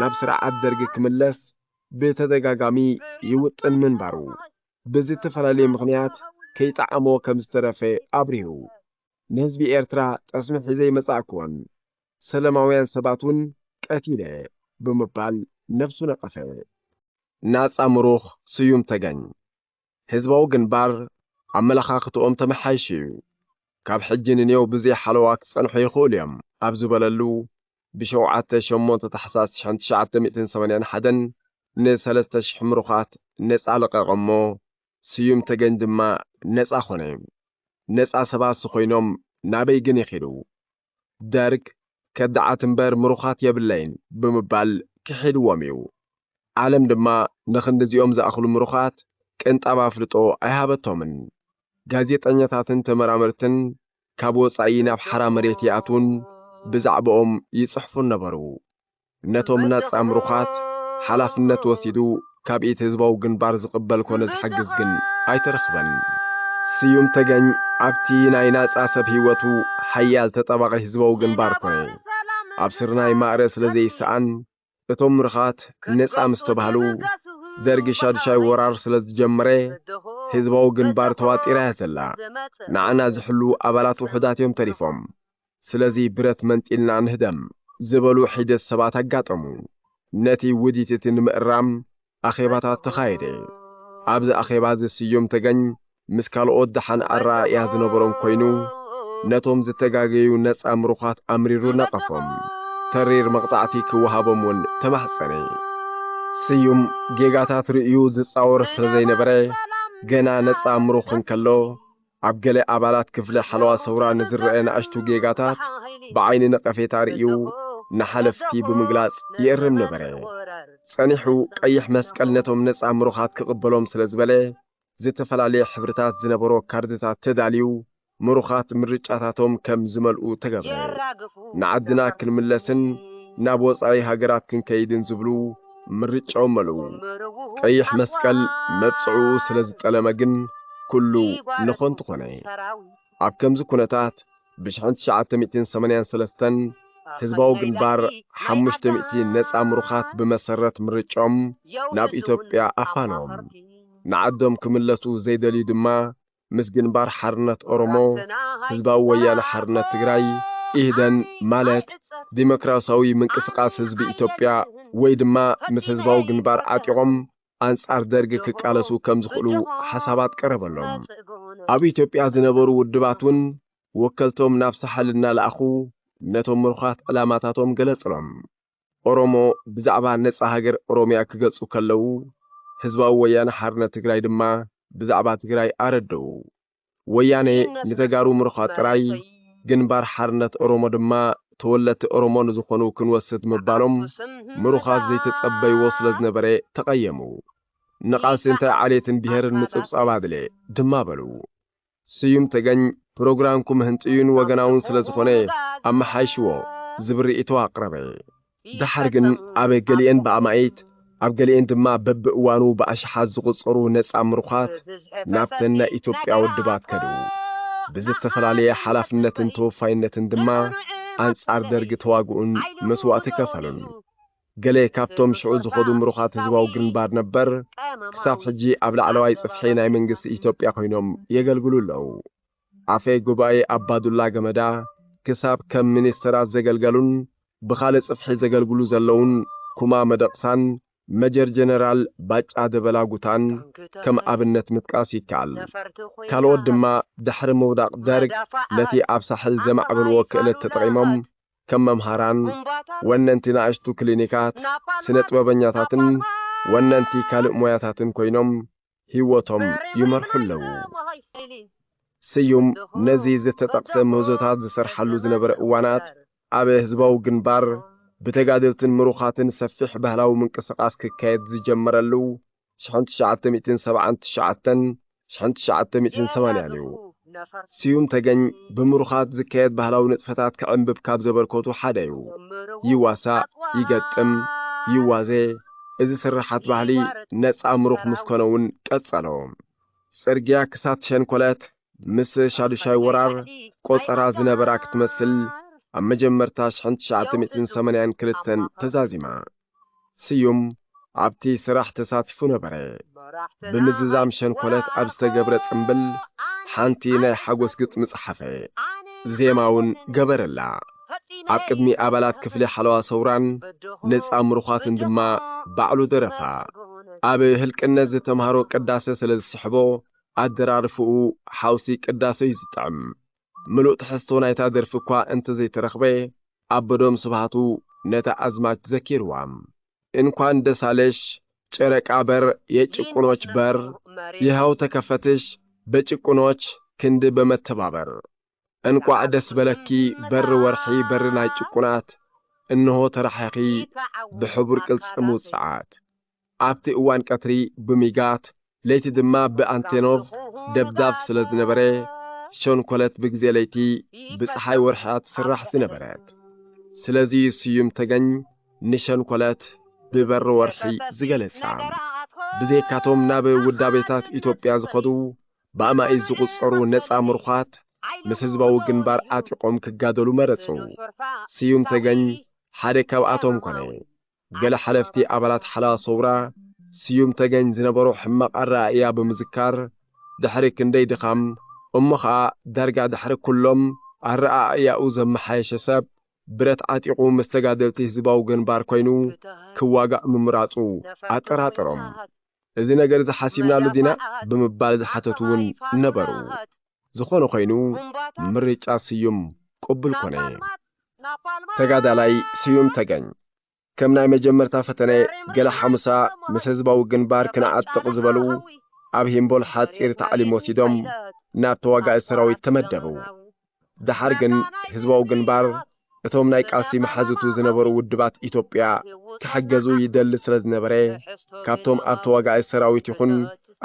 [SPEAKER 1] ናብ ስርዓት ደርጊ ክምለስ ብተደጋጋሚ ይውጥን ምንባሩ ብዝተፈላለየ ምኽንያት ከይጠዓሞ ከምዝተረፈ ኣብሪሁ። ንህዝቢ ኤርትራ ጠስሚ ሒዘ ኣይመጻእኩዎን። ሰለማውያን ሰባት ውን ቀቲለ ብምባል ነብሱ ነቐፈ። ናጻ ምሩኽ ስዩም ተገኝ፣ ህዝባዊ ግንባር ኣመለኻኽትኦም ተመሓይሹ'ዩ፣ ካብ ሕጂ ንኔው ብዘይ ሓለዋ ክጸንሑ ይኽእሉ'ዮም ኣብ ዝበለሉ ብ ሸውዓተ ሸሞንተ ታሕሳስ ሽሕን ትሽዓተ ሚእትን ሰማንያን ሓደን ን ሰለስተ ሽሕ ምሩኻት ነጻ ለቐቐ'ሞ ስዩም ተገኝ ድማ ነጻ ኮነ። ነጻ ሰባሲ ኮይኖም ናበይ ግን ይኺዱ? ደርግ ከዳዓት እምበር ምሩኻት የብለይን ብምባል ክሒድዎም እዩ። ዓለም ድማ ንኽንድዚኦም ዝኣኽሉ ምሩኻት ቅንጣብ ኣፍልጦ ኣይሃበቶምን። ጋዜጠኛታትን ተመራመርትን ካብ ወጻኢ ናብ ሓራ መሬት ይኣትዉን ብዛዕብኦም ይጽሕፉን ነበሩ። ነቶም ናጻ ምሩኻት ሓላፍነት ወሲዱ ካብ ኢድ ህዝባዊ ግንባር ዝቕበል ኮነ ዝሕግዝ ግን ኣይተረኽበን። ስዩም ተገኝ ኣብቲ ናይ ናጻ ሰብ ህይወቱ ሓያል ተጣባቒ ህዝባዊ ግንባር ኮነ። ኣብ ስርናይ ማእረ ስለ ዘይሰኣን እቶም ምሩኻት ነጻ ምስ ተባህሉ ደርጊ ሻዱሻይ ወራር ስለ ዝጀመረ ህዝባዊ ግንባር ተዋጢራ እያ ዘላ። ንዓና ዝሕልዉ ኣባላት ውሑዳት እዮም ተሪፎም። ስለዚ ብረት መንጢልና ንህደም ዝበሉ ሒደት ሰባት ኣጋጠሙ። ነቲ ውዲት እቲ ንምእራም ኣኼባታት ተኻየደ። ኣብዚ ኣኼባ እዚ ስዩም ተገኝ ምስ ካልኦት ደሓን ኣረኣእያ ዝነበሮም ኮይኑ ነቶም ዝተጋገዩ ነጻ ምሩኻት ኣምሪሩ ነቐፎም። ተሪር መቕጻዕቲ ክወሃቦም እውን ተማሕጸነ። ስዩም ጌጋታት ርእዩ ዝጻወር ስለዘይነበረ ገና ነጻ ምሩኽ እንከሎ ኣብ ገለ ኣባላት ክፍሊ ሓለዋ ሰውራ ንዝረኣ ናእሽቱ ጌጋታት ብዓይኒ ነቐፌታ ርእዩ ንሓለፍቲ ብምግላጽ ይእርም ነበረ። ጸኒሑ ቀይሕ መስቀል ነቶም ነጻ ምሩኻት ክቕበሎም ስለ ዝበለ፣ ዝተፈላለየ ሕብርታት ዝነበሮ ካርድታት ተዳልዩ ምሩኻት ምርጫታቶም ከም ዝመልኡ ተገብረ። ንዓድና ክንምለስን ናብ ወጻኢ ሃገራት ክንከይድን ዝብሉ ምርጫው መሉው ቀይሕ መስቀል መብጽዕኡ ስለ ዝጠለመ ግን ኩሉ ንኾንቱ ኾነ። ኣብ ከምዚ ኩነታት ብሽሕን ትሽዓተ ሚእቲን ሰማንያን ሰለስተን ህዝባዊ ግንባር ሓሙሽተ ሚእቲ ነጻ ምሩኻት ብመሰረት ምርጮም ናብ ኢትዮጵያ ኣፋነዎም። ንዓዶም ክምለሱ ዘይደልዩ ድማ ምስ ግንባር ሓርነት ኦሮሞ፣ ህዝባዊ ወያነ ሓርነት ትግራይ፣ ኢህደን፣ ማለት ዲሞክራሲያዊ ምንቅስቓስ ህዝቢ ኢትዮጵያ ወይ ድማ ምስ ህዝባዊ ግንባር ዓጢቖም ኣንጻር ደርጊ ክቃለሱ ከም ዝኽእሉ ሓሳባት ቀረበሎም። ኣብ ኢትዮጵያ ዝነበሩ ውድባት እውን ወከልቶም ናብ ሳሕል እናለኣኹ ነቶም ምሩኻት ዕላማታቶም ገለጽሎም። ኦሮሞ ብዛዕባ ነጻ ሃገር ኦሮሚያ ክገልጹ ከለዉ፣ ህዝባዊ ወያነ ሓርነት ትግራይ ድማ ብዛዕባ ትግራይ ኣረድኡ። ወያኔ ንተጋሩ ምርዃ ጥራይ፣ ግንባር ሓርነት ኦሮሞ ድማ ተወለድቲ ኦሮሞ ንዝኾኑ ክንወስድ ምባሎም ምሩኻት ዘይተጸበይዎ ስለ ዝነበረ ተቐየሙ። ንቓልሲ እንታይ ዓሌትን ብሄርን ምጽብጻብ ኣድልየ? ድማ በሉ። ስዩም ተገኝ ፕሮግራምኩም ህንጡዩን ወገናውን ስለ ዝኾነ ኣመሓይሽዎ ዝብል ርእይቶ ኣቕረበ። ደሓር ግን ኣብ ገሊኤን ብኣማኢት ኣብ ገሊኤን ድማ በብእዋኑ ብኣሽሓት ዝቑጸሩ ነጻ ምሩኻት ናብተን ናይ ኢትዮጵያ ውድባት ከዱ። ብዝተፈላለየ ሓላፍነትን ተወፋይነትን ድማ ኣንጻር ደርጊ ተዋግኡን መስዋእቲ ከፈሉን። ገለ ካብቶም ሽዑ ዝኸዱ ምሩኻት ህዝባዊ ግንባር ነበር ክሳብ ሕጂ ኣብ ላዕለዋይ ጽፍሒ ናይ መንግስቲ ኢትዮጵያ ኮይኖም የገልግሉ ኣለዉ። ኣፈ ጉባኤ ኣባዱላ ገመዳ ክሳብ ከም ሚኒስተራት ዘገልገሉን ብኻልእ ጽፍሒ ዘገልግሉ ዘለዉን ኩማ መደቕሳን መጀር ጀነራል ባጫ ደበላ ጉታን ከም ኣብነት ምጥቃስ ይከኣል። ካልኦት ድማ ድሕሪ ምውዳቕ ደርግ ነቲ ኣብ ሳሕል ዘማዕበልዎ ክእለት ተጠቒሞም ከም መምሃራን፣ ወነንቲ ናእሽቱ ክሊኒካት፣ ስነጥበበኛታትን ወነንቲ ካልእ ሞያታትን ኮይኖም ህይወቶም ይመርሑ ኣለዉ። ስዩም ነዚ ዝተጠቕሰ ምህዞታት ዝሰርሓሉ ዝነበረ እዋናት፣ ኣብ ህዝባዊ ግንባር ብተጋደልትን ምሩኻትን ሰፊሕ ባህላዊ ምንቅስቓስ ክካየድ ዝጀመረሉ ሽሕን ትሽዓተ ሚእትን ሰብዓን ትሽዓተን ሽሕን ትሽዓተ ሚእትን ሰማንያን እዩ። ስዩም ተገኝ ብምሩኻት ዝካየድ ባህላዊ ንጥፈታት ክዕምብብ ካብ ዘበርከቱ ሓደ እዩ። ይዋሳእ፣ ይገጥም፣ ይዋዜ፣ እዚ ስርሓት ባህሊ ነጻ ምሩኽ ምስ ኮነ እውን ቀጸሎ። ጽርግያ ክሳት ሸንኮለት ምስ ሻዱሻይ ወራር ቆጸራ ዝነበራ ክትመስል ኣብ መጀመርታ ሽሕን ትሽዓተ ሚእትን ሰማንያን ክልተን ተዛዚማ። ስዩም ኣብቲ ስራሕ ተሳቲፉ ነበረ። ብምዝዛም ሸንኮለት ኣብ ዝተገብረ ጽምብል ሓንቲ ናይ ሓጎስ ግጥሚ ጸሓፈ። ዜማ'ውን ገበረላ። ኣብ ቅድሚ ኣባላት ክፍሊ ሓለዋ ሰውራን ነጻ ምሩዃትን ድማ ባዕሉ ደረፋ። ኣብ ህልቅነት ዝተማህሮ ቅዳሰ ስለ ዝስሕቦ ኣደራርፍኡ ሓውሲ ቅዳሰ'ዩ ዝጥዕም። ምሉእ ትሕዝቶ ናይታ ደርፊ'ኳ እንተዘይተረኽበ፣ ኣቦዶም ስብሃቱ ነታ ኣዝማች ዘኪርዋ እንኳን ደስ ኣለሽ ጨረቃ በር የጭቁኖች በር ይሀው ተከፈትሽ በጭቁኖች ክንድ በመተባበር እንቋዕ ደስ በለኪ በር ወርሒ በር ናይ ጭቁናት እንሆ ተራሒኺ ብሕቡር ቅልጽም ውጽዓት ኣብቲ እዋን ቀትሪ ብሚጋት ለይቲ ድማ ብኣንቴኖቭ ደብዳብ ስለ ዝነበረ ሸንኮለት ብግዜ ለይቲ ብፀሓይ ወርሒያ ትስራሕ ዝነበረት ስለዚ እዩ ስዩም ተገኝ ንሸንኮለት ብበሪ ወርሒ ዝገለጻ ብዘይካቶም ናብ ውዳቤታት ኢትዮጵያ ዝኸዱ ብኣማኢት ዝቝጸሩ ነጻ ምሩዃት ምስ ህዝባዊ ግንባር ኣጢቖም ክጋደሉ መረጹ። ስዩም ተገኝ ሓደ ካብኣቶም ኮነ። ገለ ሓለፍቲ ኣባላት ሓለዋ ሰውራ ስዩም ተገኝ ዝነበሮ ሕማቕ ኣረኣእያ ብምዝካር፣ ድሕሪ ክንደይ ድኻም፣ እሞ ኸኣ ዳርጋ ድሕሪ ኩሎም ኣረኣእያኡ ዘመሓየሸ ሰብ፣ ብረት ዓጢቑ ምስ ተጋደልቲ ህዝባዊ ግንባር ኮይኑ ክዋጋእ ምምራጹ ኣጠራጠሮም። እዚ ነገር'ዚ ሓሲብናሉ ዲና? ብምባል ዝሓተቱ'ውን ነበሩ። ዝኾነ ኾይኑ ምርጫ ስዩም ቅቡል ኮነ። ተጋዳላይ ስዩም ተገኝ ከም ናይ መጀመርታ ፈተነ ገለ ሓሙሳ ምስ ህዝባዊ ግንባር ክነዓጥቕ ዝበሉ ኣብ ሂምቦል ሓጺር ታዕሊም ወሲዶም ናብ ተዋጋኢ ሰራዊት ተመደቡ። ደሓር ግን ህዝባዊ ግንባር እቶም ናይ ቃልሲ መሓዙቱ ዝነበሩ ውድባት ኢትዮጵያ ክሕገዙ ይደሊ ስለ ዝነበረ፣ ካብቶም ኣብ ተዋጋኢ ሰራዊት ይኹን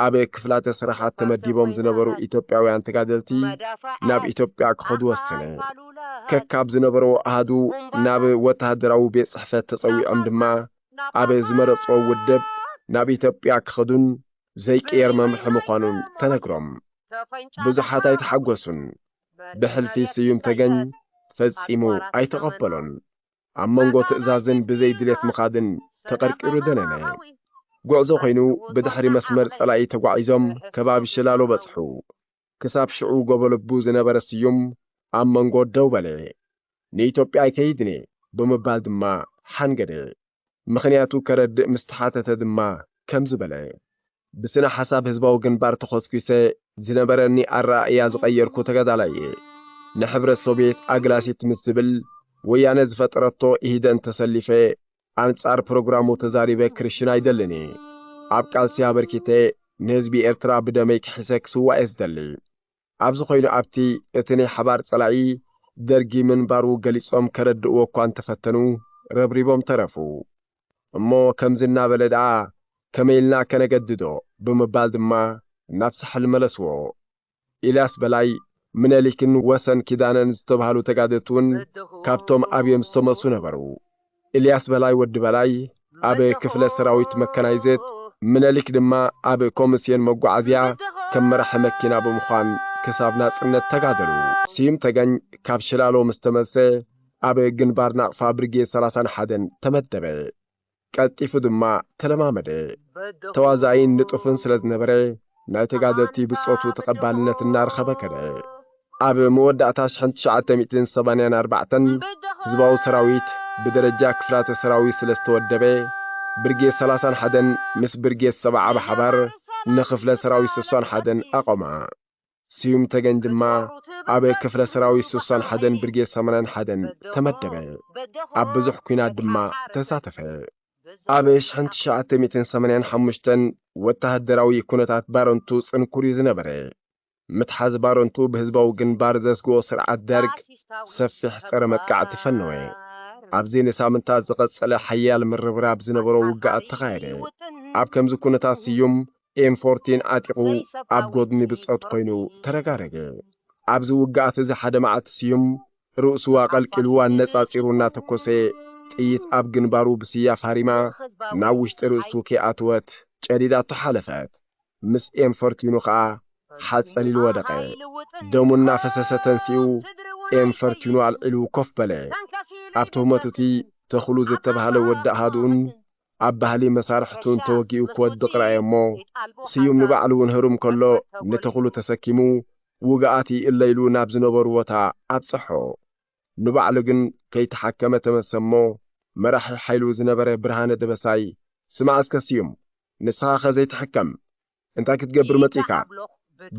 [SPEAKER 1] ኣብ ክፍላተ ስራሓት ተመዲቦም ዝነበሩ ኢትዮጵያውያን ተጋደልቲ ናብ ኢትዮጵያ ክኸዱ ወሰነ። ከካብ ዝነበርዎ ኣሃዱ ናብ ወተሃደራዊ ቤት ጽሕፈት ተጸዊዖም ድማ ኣብ ዝመረጽዎ ውድብ ናብ ኢትዮጵያ ክኸዱን ዘይቅየር መምርሒ ምዃኑን ተነግሮም። ብዙሓት ኣይተሓጎሱን። ብሕልፊ ስዩም ተገኝ ፈጺሙ ኣይተቐበሎን። ኣብ መንጎ ትእዛዝን ብዘይ ድሌት ምኻድን ተቐርቂሩ ደነነ። ጉዕዞ ኮይኑ ብድሕሪ መስመር ጸላኢ ተጓዒዞም ከባቢ ሽላሎ በጽሑ። ክሳብ ሽዑ ጎቦልቡ ዝነበረ ስዩም ኣብ መንጎ ደው በለ። ንኢትዮጵያ ኣይከይድን'የ ብምባል ድማ ሓንገደ። ምኽንያቱ ከረድእ ምስ ተሓተተ ድማ ከምዚ በለ፣ ብስነ ሓሳብ ህዝባዊ ግንባር ተኾስኲሰ ዝነበረኒ ኣረኣእያ ዝቐየርኩ ተጋዳላይ እየ። ንሕብረት ሶቭየት ኣግላሲት ምስ ዝብል ወያነ ዝፈጠረቶ ኢህደን ተሰሊፈ ኣንጻር ፕሮግራሙ ተዛሪበ ክርሽን ኣይደልን እየ። ኣብ ቃልሲ ኣበርኪተ ንህዝቢ ኤርትራ ብደመይ ክሒሰ ክስዋእ እየ ዝደሊ። ኣብዚ ኮይኑ ኣብቲ እቲ ናይ ሓባር ፀላኢ ደርጊ ምንባሩ ገሊፆም ከረድእዎ እኳ እንተፈተኑ ረብሪቦም ተረፉ። እሞ ከምዚ እናበለ ደኣ ከመይ ኢልና ከነገድዶ ብምባል ድማ ናብ ሳሕል መለስዎ። ኢልያስ በላይ፣ ምነሊክን ወሰን ኪዳነን ዝተብሃሉ ተጋደልቲ እውን ካብቶም ኣብዮም ዝተመሱ ነበሩ። ኢልያስ በላይ ወዲ በላይ ኣብ ክፍለ ሰራዊት መካናይዝድ፣ ምነሊክ ድማ ኣብ ኮምስዮን መጓዓዝያ ከም መራሒ መኪና ብምዃን ክሳብ ናጽነት ተጋደሉ። ስዩም ተገኝ ካብ ሽላሎ ምስ ተመልሰ ኣብ ግንባር ናቕፋ ብርጌድ ሰላሳን ሓደን ተመደበ። ቀልጢፉ ድማ ተለማመደ። ተዋዛኢን ንጡፍን ስለ ዝነበረ ናይ ተጋደልቲ ብጾቱ ተቐባልነት እናረኸበ ከደ። ኣብ መወዳእታ ሽሕን ትሽዓተ ሚእትን ሰማንያን ኣርባዕተን ህዝባዊ ሰራዊት ብደረጃ ክፍላተ ሰራዊት ስለ ዝተወደበ፣ ብርጌድ ሰላሳን ሓደን ምስ ብርጌድ ሰብዓ ብሓባር ንክፍለ ሰራዊት ስሳን ሓደን ኣቘማ። ስዩም ተገኝ ድማ ኣብ ክፍለ ሰራዊት ስሳን ሓደን ብርጌድ ሰማንያን ሓደን ተመደበ። ኣብ ብዙሕ ኲናት ድማ ተሳተፈ። ኣብ ሽሕን ትሽዓተ ሚእትን ሰማንያን ሓሙሽተን ወተሃደራዊ ኩነታት ባረንቱ ጽንኩር እዩ ዝነበረ። ምትሓዝ ባረንቱ ብህዝባዊ ግንባር ዘስግኦ ስርዓት ደርግ ሰፊሕ ጸረ መጥቃዕቲ ፈነወ። ኣብዚ ንሳምንታት ዝቐጸለ ሓያል ምርብራብ ዝነበሮ ውግኣት ተኻየደ። ኣብ ከምዚ ኩነታት ስዩም ኤም ፎርቲን ዓጢቑ ኣብ ጎድኒ ብጾት ኮይኑ ተረጋረገ። ኣብዚ ውግኣት እዚ ሓደ መዓልቲ ስዩም ርእሱ ኣቐልቂሉ ኣነጻጺሩ እናተኮሰ ጥይት ኣብ ግንባሩ ብስያፍ ሃሪማ ናብ ውሽጢ ርእሱ ከይኣተወት ጨዲዳቶ ሓለፈት። ምስ ኤም ፈርትዩኑ ከኣ ሓጸል ኢሉ ወደቐ። ደሙ እናፈሰሰ ተንሲኡ ኤም ፈርትዩኑ ኣልዒሉ ኮፍ በለ። ኣብ ትህሞት'ቲ ተኽሉ ዝተባህለ ወዲ ኣሃዱኡን ኣብ ባህሊ መሳርሕቱን ተወጊኡ ክወድቕ ረኣየ'ሞ ስዩም ንባዕሉ'ውን ህሩም ከሎ ንተኽሉ ተሰኪሙ ውግኣት ይእለ ኢሉ ናብ ዝነበሩዎ ቦታ ኣብጸሖ። ንባዕሉ ግን ከይተሓከመ ተመሰ'ሞ መራሒ ሓይሉ ዝነበረ ብርሃነ ደበሳይ ስማዕ እስከ ስዩም ንስኻኸ ዘይትሕከም እንታይ ክትገብር መጺእካ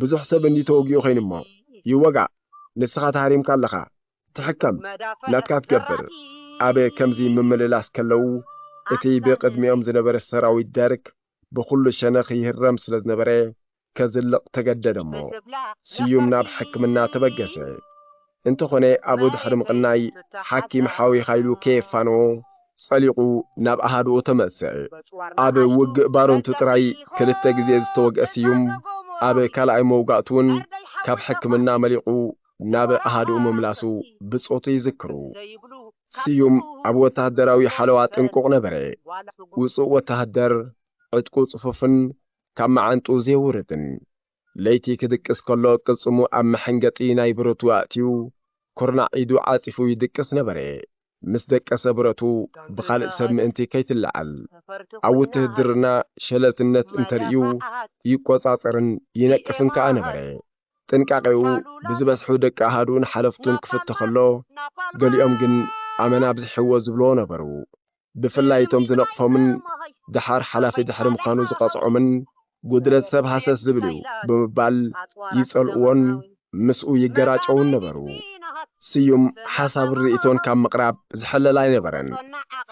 [SPEAKER 1] ብዙሕ ሰብ እንድዩ ተወጊኡ ኮይኑ'ሞ ይወጋእ ንስኻ ተሃሪምካ ኣለኻ ትሕከም ናትካ ትገብር ኣብ ከምዚ ምምልላስ ከለው እቲ ብቅድሚኦም ዝነበረ ሰራዊት ደርግ ብኹሉ ሸነኽ ይህረም ስለ ዝነበረ ከዝልቕ ተገደደ'ሞ ስዩም ናብ ሕክምና ተበገሰ። እንተኾነ ኣብኡ ድሕሪ ምቕናይ ሓኪም ሓዊኻ ኢሉ ከየፋነዎ ጸሊቑ ናብ ኣሃዱኡ ተመልሰ። ኣብ ውግእ ባረንቱ ጥራይ ክልተ ግዜ ዝተወግአ ስዩም ኣብ ካልኣይ መውጋእቱ'ውን ካብ ሕክምና መሊቑ ናብ ኣሃድኡ ምምላሱ ብጾቱ ይዝክሩ። ስዩም ኣብ ወተሃደራዊ ሓለዋ ጥንቁቕ ነበረ። ውጹእ ወተሃደር፣ ዕጥቁ ጽፉፍን ካብ መዓንጥኡ ዜውርድን። ለይቲ ኪድቅስ ከሎ ቅልጽሙ ኣብ መሐንገጢ ናይ ብረቱ ኣእትዩ፣ ኵርናዕ ኢዱ ዓጺፉ ይድቅስ ነበረ። ምስ ደቀሰ ብረቱ ብኻልእ ሰብ ምእንቲ ከይትለዓል፣ ኣብ ውትህድርና ሸለልትነት እንተ ርእዩ ይቈጻጸርን ይነቅፍን ከኣ ነበረ። ጥንቃቄኡ ብዝበዝሑ ደቂ ኣሃዱኡን ሓለፍቱን ክፍቶ ከሎ፣ ገሊኦም ግን ኣመና ኣብዚሕዎ ዝብልዎ ነበሩ። ብፍላይ እቶም ዝነቕፎምን ደሓር ሓላፊ ድሕሪ ምዃኑ ዝቐጽዖምን፣ ጉድለት ሰብ ሃሰስ ዝብል'ዩ ብምባል ይጸልእዎን ምስኡ ይገራጨዉን ነበሩ። ስዩም ሓሳብን ርእይቶን ካብ ምቕራብ ዝሕለል ኣይነበረን።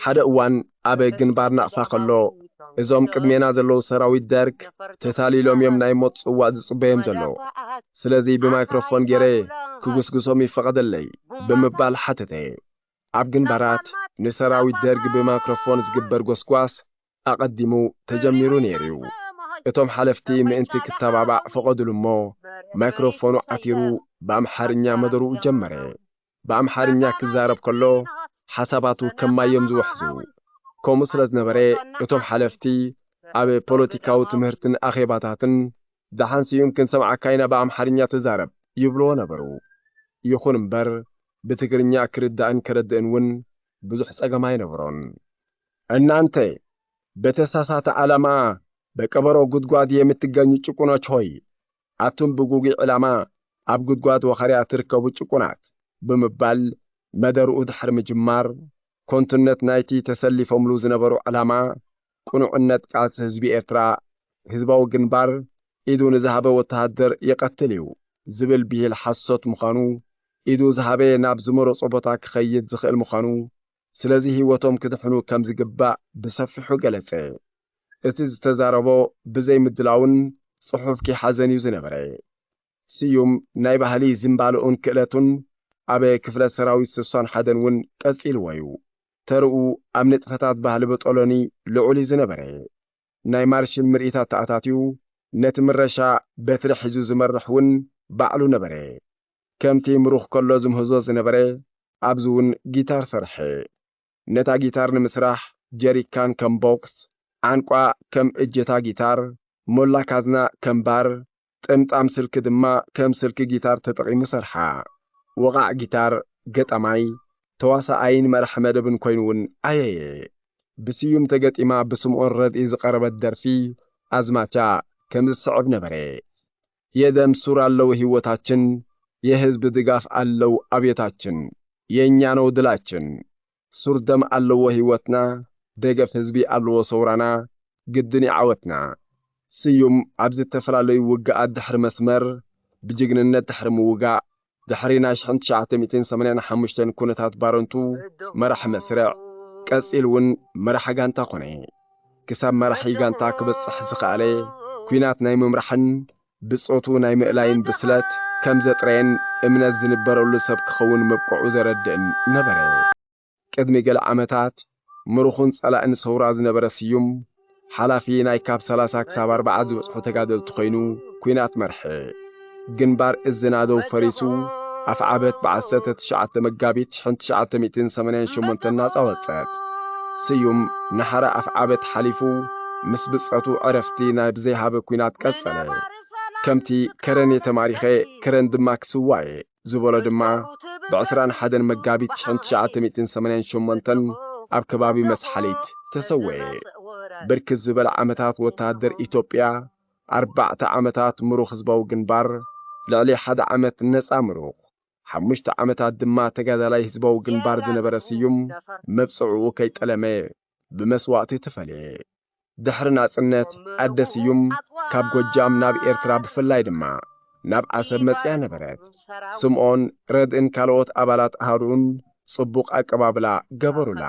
[SPEAKER 1] ሓደ እዋን ኣብ ግንባር ናቕፋ ከሎ፣ እዞም ቅድሜና ዘለዉ ሰራዊት ደርግ ተታሊሎም እዮም ናይ ሞት ጽዋእ ዝጽበዮም ዘለዉ። ስለዚ ብማይክሮፎን ገይረ ክጉስጉሶም ይፈቐደለይ? ብምባል ሓተተ። ኣብ ግንባራት ንሰራዊት ደርግ ብማይክሮፎን ዝግበር ጎስጓስ ኣቐዲሙ ተጀሚሩ ነይሩ'ዩ። እቶም ሓለፍቲ ምእንቲ ክተባባዕ ፈቐዱሉ'ሞ ማይክሮፎኑ ዓቲሩ ብኣምሓርኛ መደርኡ ጀመረ። ብኣምሓርኛ ክዛረብ ከሎ ሓሳባቱ ከም ማይ እዮም ዝውሕዙ። ከምኡ ስለ ዝነበረ እቶም ሓለፍቲ ኣብ ፖለቲካዊ ትምህርትን ኣኼባታትን ደሓን ስዩም ክንሰምዓካ ኢና ብኣምሓርኛ ተዛረብ ይብልዎ ነበሩ። ይኹን እምበር ብትግርኛ ክርዳእን ከረድእን እውን ብዙሕ ጸገም ኣይነበሮን። እናንተ በተሳሳተ ዓላማ በቀበሮ ጉድጓድ የምትገኙ ጭቁኖች ሆይ ኣቱም ብጉጉይ ዕላማ ኣብ ጉድጓድ ወኸርያ ትርከቡ ጭቁናት! ብምባል መደርኡ ድሕሪ ምጅማር፣ ኮንቱነት ናይቲ ተሰሊፎምሉ ዝነበሩ ዕላማ፣ ቅኑዕነት ቃልሲ ህዝቢ ኤርትራ፣ ህዝባዊ ግንባር ኢዱ ንዝሃበ ወተሃደር ይቐትል እዩ ዝብል ብሂል ሓሶት ምዃኑ፣ ኢዱ ዝሃበ ናብ ዝመረጾ ቦታ ክኸይድ ዝኽእል ምዃኑ ስለዚ ህይወቶም ክድሕኑ ከም ዝግባእ ብሰፊሑ ገለጸ። እቲ ዝተዛረቦ ብዘይ ምድላውን ጽሑፍ ከይሓዘን እዩ ዝነበረ። ስዩም ናይ ባህሊ ዝንባለኡን ክእለቱን ኣብ ክፍለ ሰራዊት ስሳን ሓደን እውን ቀጺልዎ እዩ። ተርኡ ኣብ ንጥፈታት ባህሊ ብጦሎኒ ልዑል እዩ ዝነበረ። ናይ ማርሽል ምርኢታት ተኣታትዩ ነቲ ምረሻ በትሪ ሒዙ ዝመርሕ እውን ባዕሉ ነበረ። ከምቲ ምሩኽ ከሎ ዝምህዞ ዝነበረ ኣብዚ ውን ጊታር ሰርሐ። ነታ ጊታር ንምስራሕ ጀሪካን ከም ቦክስ፣ ዓንቋ ከም እጀታ ጊታር፣ ሞላ ካዝና ከም ባር፣ ጥምጣም ስልኪ ድማ ከም ስልኪ ጊታር ተጠቒሙ ሰርሓ። ወቓዕ ጊታር፣ ገጣማይ፣ ተዋሳኣይን መራሒ መደብን ኮይኑ ውን ዓየየ። ብስዩም ተገጢማ ብስምኦን ረድኢ ዝቐረበት ደርፊ ኣዝማቻ ከም ዝስዕብ ነበረ። የደም ሱር ኣለው ሂወታችን የህዝብ ድጋፍ ኣለው ኣብዮታችን የኛ ነው ድላችን ሱር ደም ኣለዎ ሂወትና ደገፍ ህዝቢ ኣልዎ ሰውራና ግድን ዩ ዓወትና ስዩም ኣብ ዝተፈላለዩ ውግኣት ድሕሪ መስመር ብጅግንነት ድሕሪ ምውጋእ ድሕሪ ናይ ሽሕን ትሽዓተ ሚእትን ሰማንያን ሓሙሽተን ኩነታት ባረንቱ መራሒ መስርዕ ቀጺል እውን መራሒ ጋንታ ኮነ። ክሳብ መራሒ ጋንታ ክበጽሕ ዝኸኣለ ኩናት ናይ ምምራሕን ብጾቱ ናይ ምእላይን ብስለት ከም ዘጥረየን እምነት ዝንበረሉ ሰብ ክኸውን ምብቅዑ ዘረድእን ነበረ። ቅድሚ ገለ ዓመታት ምሩኹን ጸላእን ሰውራ ዝነበረ ስዩም፣ ሓላፊ ናይ ካብ ሰላሳ ክሳብ ኣርብዓ ዝበጽሑ ተጋደልቲ ኮይኑ ኲናት መርሐ። ግንባር እዚ ናደው ፈሪሱ ኣፍዓበት ብ ዓሰርተ ትሽዓተ መጋቢት ሽሕን ትሽዓተ ሚእትን ሰማንያን ሸሞንተን ናጻ ወጸት። ስዩም ንሓራ ኣፍዓበት ሓሊፉ ምስ ብጸቱ ዕረፍቲ ናይ ብዘይሃበ ኲናት ቀጸለ። ከምቲ ከረን'የ ተማሪኸ፣ ከረን ድማ ክስዋ'የ! ዝበሎ ድማ ብዕስራን ሓደን መጋቢት ትሽዓን ትሽዓተ ሚእትን ሰማንያን ሸሞንተን ኣብ ከባቢ መስሓሊት ተሰወኤ። ብርክት ዝበለ ዓመታት ወተሃደር ኢትዮጵያ፣ ኣርባዕተ ዓመታት ምሩኽ ህዝባዊ ግንባር፣ ልዕሊ ሓደ ዓመት ነጻ ምሩኽ፣ ሓሙሽተ ዓመታት ድማ ተጋዳላይ ህዝባዊ ግንባር ዝነበረ ስዩም፣ መብጽዕኡ ከይጠለመ፣ ብመስዋእቲ ተፈልየ። ድሕሪ ናጽነት ኣደ ስዩም ካብ ጎጃም ናብ ኤርትራ ብፍላይ ድማ ናብ ዓሰብ መጺኣ ነበረት። ስምኦን፣ ረድእን ካልኦት ኣባላት ኣሃዱኡን ጽቡቕ ኣቀባብላ ገበሩላ።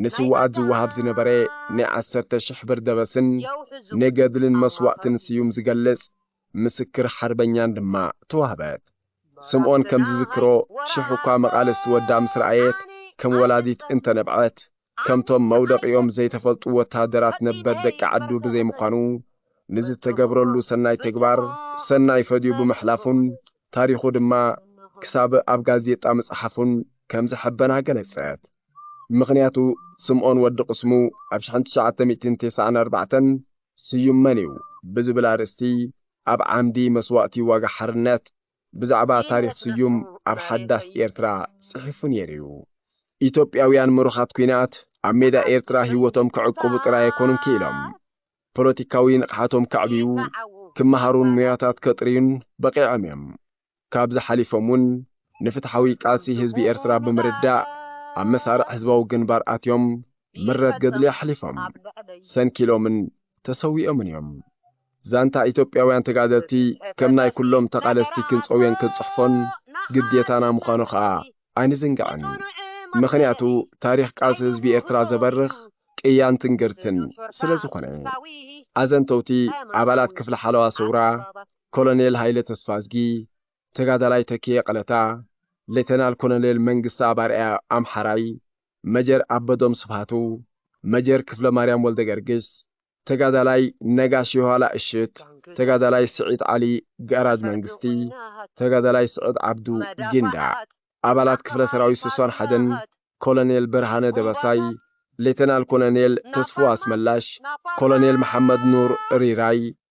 [SPEAKER 1] ንስዉኣት ዝወሃብ ዝነበረ ናይ ዓሰርተ ሽሕ ብር ደበስን ንገድልን መስዋእትን ስዩም ዝገልጽ ምስክር ሓርበኛን ድማ ተዋህበት። ስምኦን ከም ዝዝክሮ፣ ሽሕ እኳ መቓልስቲ ወዳ ምስ ረኣየት፣ ከም ወላዲት እንተ ነብዐት፣ ከምቶም መውደቒኦም ዘይተፈልጡ ወተሃደራት ነበር ደቂ ዓዱ ብዘይምዃኑ፣ ንዝተገብረሉ ሰናይ ተግባር ሰናይ ፈድዩ ብምሕላፉን ታሪኹ ድማ ክሳብ ኣብ ጋዜጣ ምጽሓፉን ከም ዘሐበና ገለጸት። ምኽንያቱ ስምኦን ወዲ ቅስሙ ኣብ ሽሕን ትሽዓተ ሚእትን ቴስዓን ኣርባዕተን ስዩም መን'ዩ ብዝብል ኣርእስቲ ኣብ ዓምዲ መስዋእቲ ዋጋ ሓርነት ብዛዕባ ታሪኽ ስዩም ኣብ ሓዳስ ኤርትራ ጽሒፉ ነይሩ'ዩ። ኢትዮጵያውያን ምሩኻት ኲናት ኣብ ሜዳ ኤርትራ ህይወቶም ክዕቅቡ ጥራይ ኣይኮኑን ክኢሎም። ፖለቲካዊ ንቕሓቶም ከዕብዩ፣ ክመሃሩን ሞያታት ከጥርዩን በቒዖም'ዮም። ካብዚ ሓሊፎም ውን ንፍትሓዊ ቃልሲ ህዝቢ ኤርትራ ብምርዳእ ኣብ መሳርዕ ህዝባዊ ግንባር ኣትዮም ምረት ገድሊ ኣሕሊፎም ሰንኪሎምን ተሰዊኦምን እዮም። ዛንታ ኢትዮጵያውያን ተጋደልቲ ከም ናይ ኩሎም ተቓለስቲ ክንጸውዮን ክንጽሕፎን ግዴታና ምዃኑ ከኣ ኣይንዝንግዕን። ምኽንያቱ ታሪኽ ቃልሲ ህዝቢ ኤርትራ ዘበርኽ ቅያን ትንግርትን ስለ ዝኾነ። ኣዘንተውቲ ኣባላት ክፍሊ ሓለዋ ሰውራ ኮሎኔል ሃይለ ተስፋዝጊ፣ ተጋዳላይ ተኪኤ ቀለታ፣ ሌተናል ኮሎኔል መንግስተኣብ ኣርኣያ፣ ኣምሓራይ፣ መጀር ኣበዶም ስብሃቱ፣ መጀር ክፍለማርያም ወልደገርግስ፣ ተጋዳላይ ነጋሽ የኋላ እሽት፣ ተጋዳላይ ስዒድ ዓሊ ጋራጅ መንግስቲ፣ ተጋዳላይ ስዕድ ዓብዱ ጊንዳዕ፣ ኣባላት ክፍለ ሰራዊት ስሳን ሓደን፣ ኮሎኔል ብርሃነ ደበሳይ፣ ሌተናል ኮሎኔል ተስፉ ኣስመላሽ፣ ኮሎኔል መሓመድ ኑር ሪራይ፣